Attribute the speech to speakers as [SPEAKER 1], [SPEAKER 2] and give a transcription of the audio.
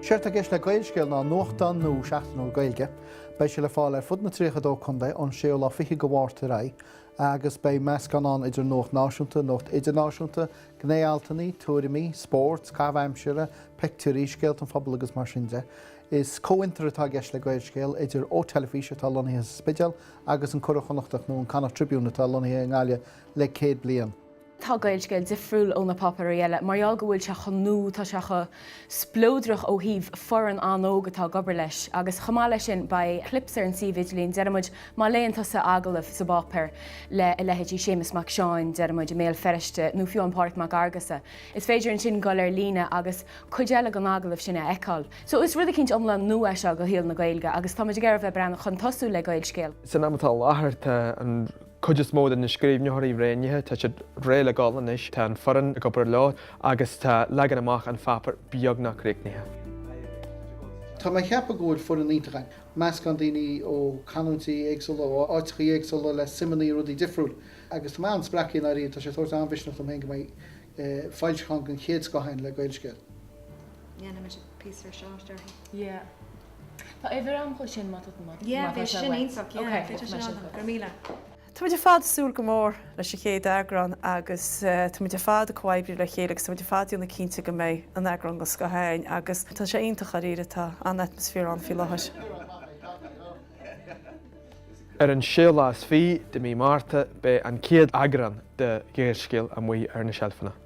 [SPEAKER 1] Séard tá i gceist le Gaelscéal ná nuachtán nua seachtainiúil Gaeilge. Beidh sé le fáil ar fud na 32 contae ón 6ú lá fichead de Mhárta ar aghaidh agus beidh meascán ann idir nuacht náisiúnta, nuacht idirnáisiúnta, gné-altanna, tuairimí, spórt, caitheamh aimsire, pictiúirí, scéalta an phobail agus mar sin de. Is comhfhiontar atá i gceist le Gaelscéal idir Eo Teilifís, atá lonnaithe sa Spidéal, agus An Curadh Connachtach nó an Connacht Tribune atá lonnaithe i nGaillimh le 100 bliain. Tá Gaelscéal difriúil ó na páipéir eile mar gheall go bhfuil sé chun nó tá sé chomh spleodrach ó thaobh foireann an-óg atá ag obair leis agus chomh maith leis sin beidh clips ar an suíomh idirlíon deir muid má léann tusa agallamh sa bpáipéar le a leithéidí Séamus Mac Seáin deir muid i mBéal Feirste nó fiú Pádraig Mac Fheargusa is féidir ansin dul ar líne agus cuid eile den agallamh sin a fheiceáil so is rud eicínt iomlán nua é seo do shaol na Gaeilge agus táimid ag iarraidh bheith ag breathnú chun tosaigh le Gaelscéal. San am atá i láthair tá an. cuid is mó de na scríbhneoirí roghnaithe, tá siad réidh le dul anois, tá an fhoireann ag obair leo agus tá leagan amach an pháipéir beagnach críochnaithe. Tá mé ag ceapadh go bhfuil foireann iontach againn, meascán daoine ó canúintí éagsúla, ó áiteachaí éagsúla, le suimeanna i rudaí difriúil, agus tá mé an-spreagtha i ndáiríre, tá sé ag tabhairt an-mhisneach dom féin go mbeidh foilseachán den chéad scoth againn le Gaelscéal. dhéanfaimid píosa research orthu. Tá uimhir ann dho sin, má tá sé wet. Yeah, bhí sé sin iontach, yeah, bhí sé sin iontach, go raibh míle. Táimid ar fad ag súil go mór leis an chéad eagrán agus táimid ar fad ag comhoibriú le chéile agus táimid ar fad ag déanamh cinnte go mbeidh eagrán den scoth againn agus tá sé iontach dháiríre, tá an-atmaisféar ann faoi láthair. Ar an séú lá is fiche de mhí Márta beidh an chéad eagrán de Ghaelscéal amuigh ar na seilfeanna.